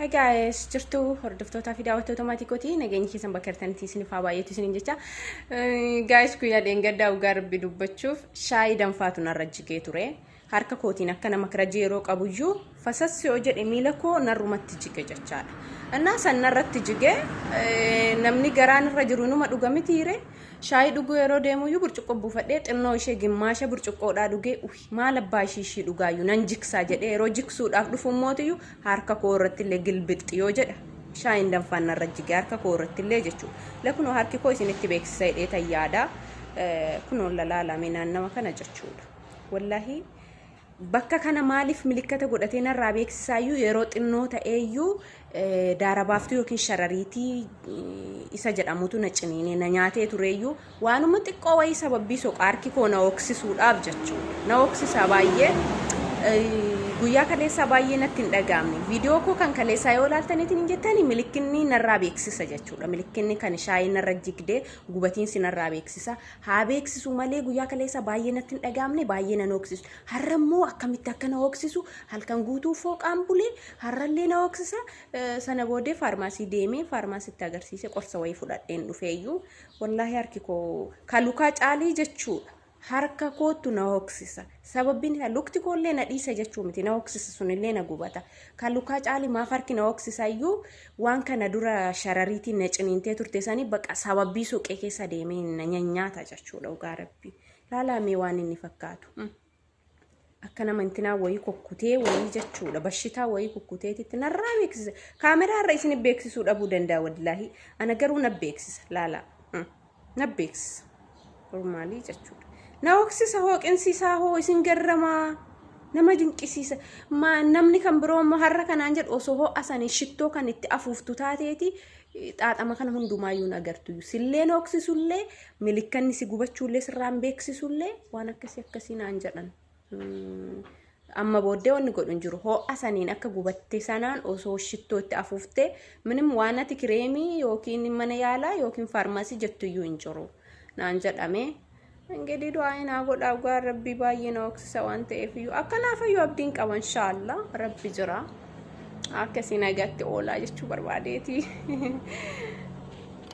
Hi guys, jirtu hordoftootaa fi daawwattoota maatii kooti nageenyi keessan bakka jirtanitti isiniif haa baay'atu isiniin jecha. Guys guyyaa dheengaddaa dhugaa rabbi dubbachuuf shaayii danfaatu narra jigee ture. Harka kootiin akka nama kirajii yeroo qabuyyuu fasassi yoo jedhe miila koo narrumatti jige jechaadha. Innaa san narratti jige namni garaan irra jiru numa dhuga mitiire shaayii dhuguu yeroo deemuyyuu burcuqqoo buufadhee xinnoo ishee gimmaasha burcuqqoodhaa dhugee uhi. Maal abbaa ishii ishii dhugaayyuu nan jiksaa jedhee yeroo jiksuudhaaf dhufu immootiyyu harka koo irrattillee gilbixxi yoo jedha shaayiin danfaan narra jige harka koo irrattillee jechuu la kunoo harki koo isinitti beeksisa jedhee tan yaada kunoo lalaalame naannawa kana jechuudha wallahii bakka kana maaliif milikkata godhatee narraa beeksisaayyuu yeroo xinnoo ta'eeyyuu daarabaaftuu yookiin sharariitii isa jedhamutu na ciniinee na nyaatee tureeyyuu waanuma xiqqoo wayii sababbii soqaa harki koo na hooksisuudhaaf jechuudha. Na hooksisaa baay'ee guyyaa kaleessaa baay'ee natti hin dhaga'amne. Viidiyoo koo kan kaleessaa yoo ilaaltaniitiin hin jettani milikkinni narraa beeksisa jechuudha. Milikkinni kan shaayii narra jigdee gubatiinsi narraa beeksisa. Haa beeksisu malee guyyaa kaleessaa baay'ee natti hin dhaga'amne baay'ee na hooksisu. Har'a immoo akkamitti akka na hooksisu halkan guutuu fooqaan bulee har'allee na hooksisa. Eh, Sana boodee faarmaasii deemee faarmaasitti agarsiise qorsa wayii fudhadheen dhufee iyyuu wallaahi harki koo ka lukaa caalii jechuudha. Harka kootu na hooksisa. Sababiin isaa lukti koollee na dhiisa jechuu miti na hooksisa sunillee na gubata. Ka lukaa caalii maaf harki na hooksisa iyyuu waan kana dura sharariitiin na ciniintee turte sanii baqa sababii suuqee keessa deemee na nyanyaata jechuudha dhugaa rabbii. Laalaa mee waan inni fakkaatu. Akka nama intinaa wayii kukkutee wayii jechuudha. Bashitaa wayii kukkuteetitti narraa beeksisa. Kaameraa irra isin beeksisuu dhabuu danda'a wallaahi. Ana garuu na beeksisa laalaa. Mm. Na beeksisa. Normaalii jechuudha. Na hooksisa hooqinsiisaa hoo isin garramaa. Nama dinqisiisa. Ma, namni kan biroo immoo har'a kanaan jedhu osoo ho'a sanii shittoo kan itti afuuftu taateeti xaaxama kana hundumaayyuu hin agartu. Silleen hooksisullee milikkanni si gubachuullee sirraan beeksisullee waan akkasii akkasii naan jedhan. Mm, Amma booddee wanni godhu hin jiru. Ho'a saniin akka gubatte sanaan osoo shittoo itti afuuftee minim waan ati kireemii yookiin mana yaalaa yookiin faarmaasii jettu iyyuu hin jiru naan jedhame. Ingidihi du'aayi naa godhaa dhugaa rabbii baay'ee na hoksisa waan ta'eef iyyuu akkanaa fayyuu abdiin qaba inshaallaa rabbi jira akkasii nagatti oolaa jechuu barbaadeeti.